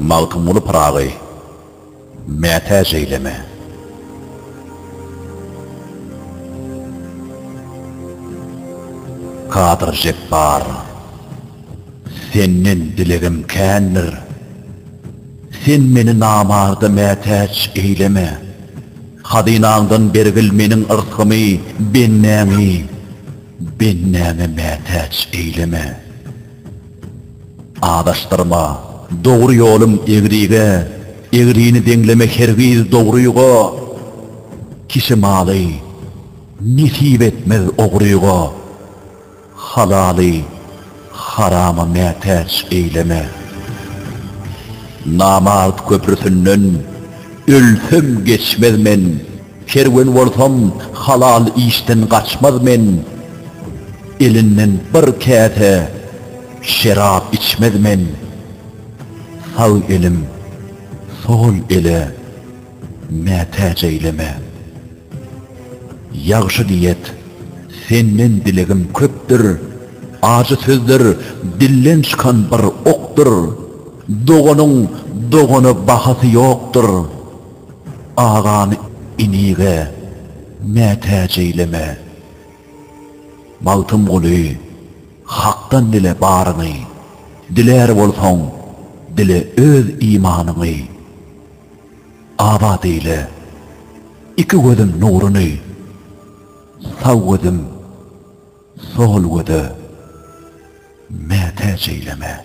Magtymguly Pyragy mätäç eýleme. Kadyr Jepbar Senden dilegim kändir, Sen meni namarda mätäç eýleme. Hazynaňdan bergil Meniň yrsgymy, bendäňi, bendäňe mätäç eýleme. Azaşdyrma, dogry ýolum egrige, egrini deňleme hergiz dogryga. Kişi maly nesip etmez ogryga. Halaly harama mätäç eýleme. Namart köprüsinden ölsem geçmez men, Kerwen bolsam halal işden gaçmaz men, Elinden bir käse şerap içmez men, Sag elim sol ele mätäç eýleme. Ýagşy diýet, senden dilegim köpdür, Ajy sözler dilden çykan bir okdur, Doganyň dogana bahasy ýokdur, Agany inige mätäç eýleme. Magtymguly, Hakdan dile baryňy, Dilär bolsaň, dile öz imanyňy. Abat eýle, iki gözüm nuruny, Sag gözüm, sol göze mätäç eýleme.